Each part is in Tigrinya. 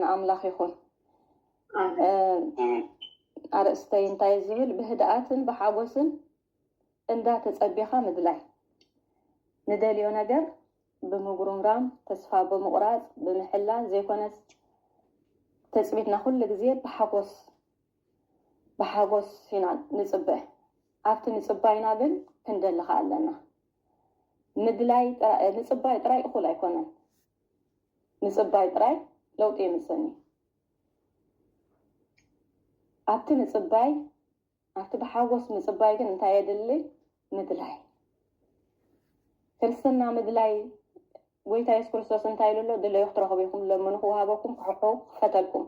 ንኣምላኽ ይኹን። ኣርእስተይ እንታይ እዩ ዝብል ብህድኣትን ብሓጎስን እንዳ ተጸቢኻ ምድላይ ንደልዮ ነገር ብምጉርምራም ተስፋ ብምቑራጽ ብምሕላን ዘይኮነስ ተጽቢትና ኩሉ ግዜ ብሓጎስ ብሓጎስ ኢና ንጽበ ኣብቲ ምጽባይና ግን ክንደልኻ ኣለና ምድላይ ንጽባይ ጥራይ እኹል ኣይኮነን ምጽባይ ጥራይ ለውጢ የምጽእን እዩ። ኣብቲ ምጽባይ ኣብቲ ብሓጎስ ምጽባይ ግን እንታይ የድሊ? ምድላይ። ክርስትና ምድላይ ጎይታ የሱስ ክርስቶስ እንታይ ኢሉ ኣሎ? ድለዩ ክትረኽቡ ኢኹም፣ ለምኑ ክወሃበኩም፣ ክሕሑ ክፈተልኩም።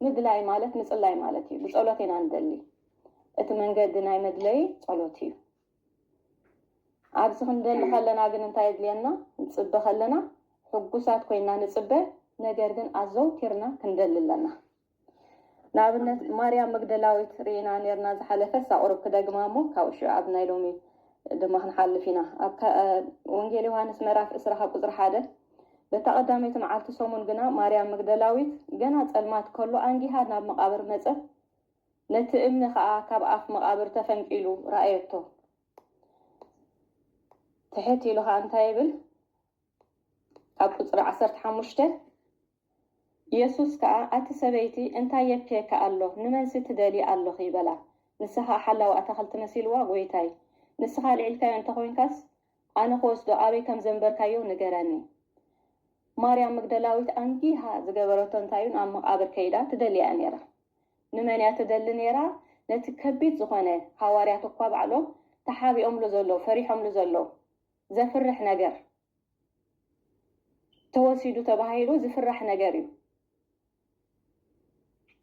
ምድላይ ማለት ምጽላይ ማለት እዩ። ብጸሎት ኢና ንደሊ። እቲ መንገዲ ናይ መድለይ ጸሎት እዩ። ኣብዚ ክንደሊ ከለና ግን እንታይ የድልየና? ንጽበ ከለና ሕጉሳት ኮይና ንጽበ፣ ነገር ግን ኣዘውቲርና ክንደሊ ኣለና። ንኣብነት ማርያም መግደላዊት ርኢና ኔርና ዝሓለፈ እሳ ቁሩብ ክደግማ እሞ ካብኡ ሽዑ ኣብ ናይ ሎሚ ድማ ክንሓልፍ ኢና። ኣብ ወንጌል ዮሃንስ ምዕራፍ ዕስራ ካብ ቁጽሪ ሓደ በታ ቀዳመይቲ መዓልቲ ሰሙን ግና ማርያም መግደላዊት ገና ጸልማት ከሎ ኣንጊሃ ናብ መቃብር መጸት፣ ነቲ እምኒ ኸኣ ካብ ኣፍ መቓብር ተፈንቂሉ ረኣየቶ። ትሕት ኢሉ ኸኣ እንታይ ይብል? ካብ ቍጽሪ ዓሰርተ ሓሙሽተ፣ የሱስ ከኣ፣ ኣቲ ሰበይቲ፣ እንታይ የብክየኪ ኣሎ? ንመንሲ ትደልዪ ኣሎኺ? በላ። ንሳ ኸኣ ሓላዊ ኣታኽልቲ መሲልዋ፣ ጐይታይ፣ ንስኻ ኣልዒልካዮ እንተ ዄንካስ፣ ኣነ ኽወስዶ ኣበይ ከም ዘንበርካዮ ንገረኒ። ማርያም መግደላዊት ኣንጊሃ ዝገበረቶ እንታይ እዩ? ናብ መቓብር ከይዳ ትደልያ እያ ነይራ። ንመን እያ ትደሊ ነይራ? ነቲ ከቢድ ዝኾነ፣ ሃዋርያት እኳ ባዕሎም ተሓቢኦምሉ ዘለዉ፣ ፈሪሖምሉ ዘለዉ ዘፍርሕ ነገር ተወሲዱ ተባሂሉ ዝፍራሕ ነገር እዩ።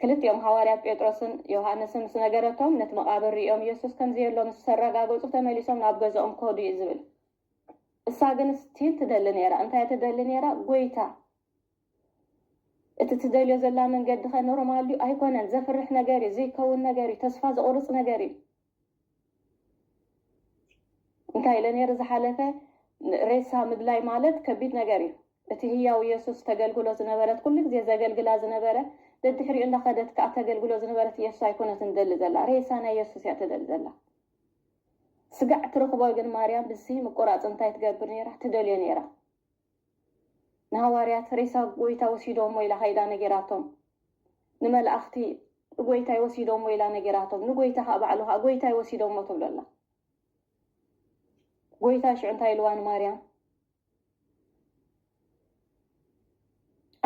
ክልቲኦም ሃዋርያት ጴጥሮስን ዮሃንስን ምስ ነገረቶም፣ ነቲ መቓብር ርእዮም የሱስ ከም ዘየሎ ምስ ኣረጋገጹ ተመሊሶም ናብ ገዝኦም ከዱ እዩ ዝብል። እሳ ግን ስቲል ትደሊ ነይራ። እንታይ እያ ትደሊ ነይራ? ጐይታ እቲ ትደልዮ ዘላ መንገዲ ከ ኖርማል ድዩ ኣይኮነን ዘፍርሕ ነገር እዩ ዘይከውን ነገር እዩ ተስፋ ዘቁርፅ ነገር እዩ እንታይ ኢለ ነይረ ዝሓለፈ ሬሳ ምድላይ ማለት ከቢድ ነገር እዩ እቲ ህያው ኢየሱስ ተገልግሎ ዝነበረት ኩሉ ግዜ ዘገልግላ ዝነበረ ደድሕሪኡ እንዳኸደት ከዓ ተገልግሎ ዝነበረት ኢየሱስ ኣይኮነትን ትደሊ ዘላ ሬሳ ናይ ኢየሱስ እያ ትደሊ ዘላ ስጋዕ ትረኽቦ ግን ማርያም ብዝሲ ምቁራፅ እንታይ ትገብር ነይራ ትደልዮ ነይራ ንሃዋርያት ሬሳ ጐይታ ወሲዶሞ ኢላ ከይዳ ነገራቶም። ንመላእኽቲ ጐይታይ ወሲዶሞ ኢላ ነገራቶም። ንጐይታ ከኣ ባዕሉ ከኣ ጐይታይ ወሲዶሞ ትብሎ ኣላ። ጐይታ ሽዑ እንታይ ኢልዋ ንማርያም?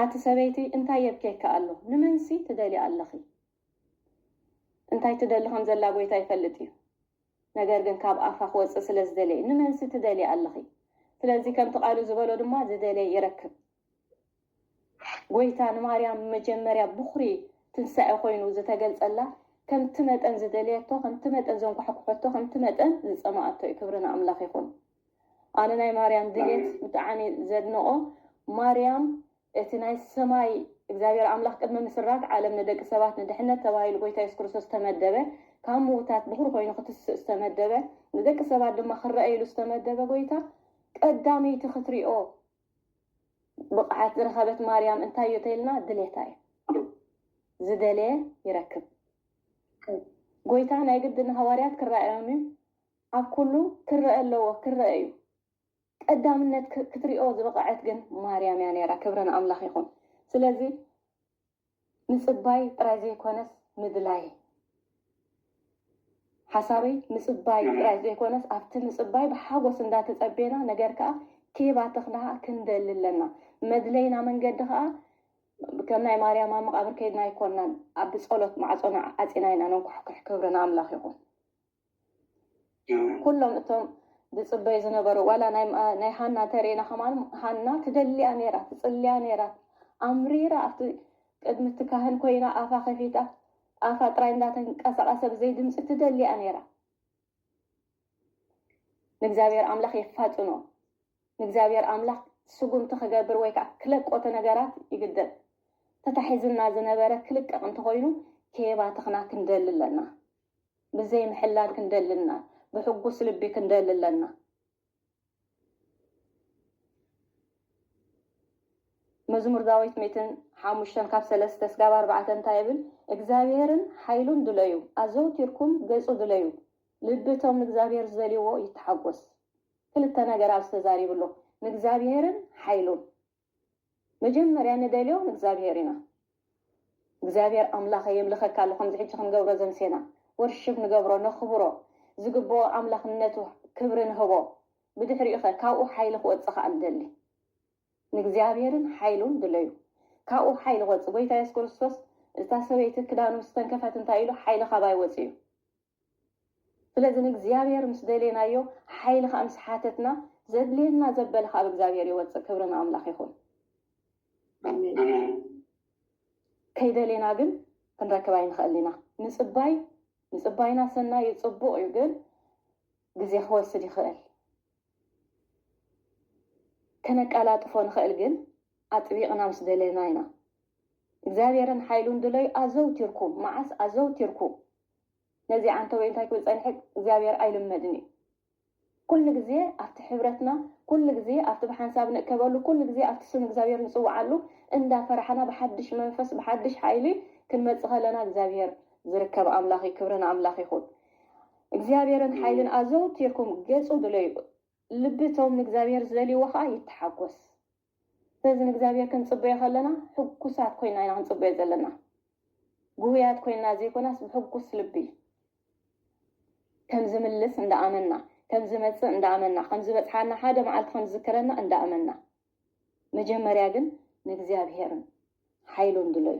ኣቲ ሰበይቲ እንታይ የብኬኪ ኣሎ? ንመንሲ ትደልያ ኣለኺ? እንታይ ትደሊ ከም ዘላ ጎይታ ይፈልጥ እዩ ነገር ግን ካብ ኣፋ ክወጽእ ስለ ዝደለየ ንመንሲ ትደልያ ኣለኺ ስለዚ ከምቲ ቃሉ ዝበሎ ድማ ዝደለየ ይረክብ ጎይታ ንማርያም መጀመርያ ብኹሪ ትንሳኤ ኮይኑ ዝተገልጸላ ከምቲ መጠን ዝደለየቶ ከምቲ መጠን ዘንኳሕኩሐቶ ከምቲ መጠን ዝጸማኣቶ እዩ ክብሪ ንኣምላኽ ይኹን ኣነ ናይ ማርያም ድሌት ብጣዕሚ ዘድንቆ ማርያም እቲ ናይ ሰማይ እግዚኣብሔር ኣምላኽ ቅድሚ ምስራት ዓለም ንደቂ ሰባት ንድሕነት ተባሂሉ ጎይታ የሱስ ክርስቶስ ዝተመደበ ካብ ምዉታት ብኹሪ ኮይኑ ክትስእ ዝተመደበ ንደቂ ሰባት ድማ ክረኣዩሉ ዝተመደበ ጎይታ ቀዳመይቲ ክትሪኦ ብቕዓት ዝረኸበት ማርያም እንታይ እዩ ተይልና ድሌታ እዩ ዝደለየ ይረክብ ጎይታ ናይ ግዲ ንሃዋርያት ክረኣዮም እዩ ኣብ ኩሉ ክረአ ኣለዎ ክረአ እዩ ቀዳምነት ክትሪኦ ዝበቐዐት ግን ማርያም እያ ነይራ ክብሪ ንኣምላኽ ይኹን ስለዚ ምጽባይ ጥራይ ዘይኮነስ ምድላይ ሓሳበይ ምጽባይ ጥራይ ዘይኮነስ ኣብቲ ምጽባይ ብሓጎስ እንዳተጸቤና ነገር ከኣ ኬባተኽናሃ ክንደሊ ኣለና መድለይና መንገዲ ከኣ ከም ናይ ማርያም ኣብ መቓብር ከይድና ኣይኮናን ኣብ ጸሎት ማዕጾና ዓጺና ኢና ነንኳሕኩሕ ክብሪ ንኣምላኽ ይኹን ኩሎም እቶም ዝጽበዩ ዝነበሩ ዋላ ናይ ሃና ተሪኢና ከማን ሃና ትደልያ ነይራ ትጽልያ ነይራ ኣምሪራ ኣብቲ ቅድሚ እቲ ካህን ኮይና ኣፋ ከፊታ ኣፋ ጥራይ እንዳተንቀሳቀሰ ብዘይ ድምጺ ትደልያ ነይራ ንእግዚኣብሔር ኣምላኽ የፋጥኖ ንእግዚኣብሔር ኣምላኽ ስጉምቲ ክገብር ወይ ከዓ ክለቆተ ነገራት ይግደል ተታሒዝና ዝነበረ ክልቀቕ እንተኮይኑ ኬባ ተኽና ክንደሊ ኣለና ብዘይ ምሕላል ክንደሊ እና ብሕጉስ ልቢ ክንደሊ ኣለና መዝሙር ዳዊት ሚእትን ሓሙሽተን ካብ ሰለስተ ስጋብ ኣርባዕተ እንታይ ይብል እግዚኣብሔርን ሓይሉን ድለዩ ኣዘውቲርኩም ገጹ ድለዩ ልቢ እቶም ንእግዚኣብሔር ዝደልይዎ ይተሓጎስ ክልተ ነገር ኣብዚ ተዛሪቡ ኣሎ ንእግዚኣብሔርን ሓይሉን መጀመርያ ንደልዮ ንእግዚኣብሄር ኢና እግዚኣብሄር ኣምላኸ የምልኸካ ኣሎ ከምዚ ሕጂ ክንገብሮ ዘምሴና ወርሽብ ንገብሮ ነኽብሮ ዝግብኦ ኣምላኽነቱ ክብሪ ንህቦ ብድሕሪኡኸ ካብኡ ሓይሊ ክወጽእ ከኣ ንደሊ ንእግዚኣብሄርን ሓይሉን ድለዩ ካብኡ ሓይሊ ክወጽእ ጎይታ የሱስ ክርስቶስ እታ ሰበይቲ ክዳኑ ምስ ተንከፈት እንታይ ኢሉ ሓይሊ ካባይ ወጽዩ ስለዚ ንእግዚኣብሔር ምስ ደሌናዮ ሓይሊ ከኣ ምስ ሓተትና ዘድልየና ዘበለ ካብ እግዚኣብሔር ይወጽእ ክብሪ ንኣምላኽ ይኹን ኣሜን ከይደሌና ግን ክንረክብ ኣይንኽእል ኢና ምጽባይ ምጽባይና ሰናይ እዩ ጽቡቕ እዩ ግን ግዜ ክወስድ ይኽእል ከነቀላጥፎ ንኽእል ግን ኣጥቢቕና ምስ ደሌና ኢና እግዚኣብሔርን ሓይሉን ድለዩ ኣዘውቲርኩም መዓስ ኣዘውቲርኩ ነዚ ዓንተቦይ እንታይ ክብል ጸኒሐ እግዚኣብሔር ኣይልመድን እዩ ኩሉ ግዜ ኣብቲ ሕብረትና ኩሉ ግዜ ኣብቲ ብሓንሳብ ንእከበሉ ኩሉ ግዜ ኣብቲ ስም እግዚኣብሔር ንጽውዓሉ እንዳ ፈራሕና ብሓድሽ መንፈስ ብሓድሽ ሓይሊ ክንመጽእ ከለና እግዚኣብሔር ዝርከብ ኣምላኽ እዩ ክብሪ ንኣምላኽ ይኹን እግዚኣብሔርን ሓይልን ኣዘውቲርኩም ገጹ ድለዩ ልቢ እቶም ንእግዚኣብሔር ዝደልይዎ ኸኣ ይተሓጎስ ስለዚ ንእግዚኣብሄር ክንጽበዮ ከለና ሕጉሳት ኮይና ኢና ክንጽበዮ ዘለና። ግሁያት ኮይና ዘይኮናስ ብሕጉስ ልቢ ከም ዝምልስ እንዳ ኣመና፣ ከም ዝመጽእ እንዳ ኣመና፣ ከም ዝበጽሓና ሓደ መዓልቲ ከም ዝዝክረና እንዳ ኣመና። መጀመርያ ግን ንእግዚኣብሄርን ሓይሉን ድለዩ።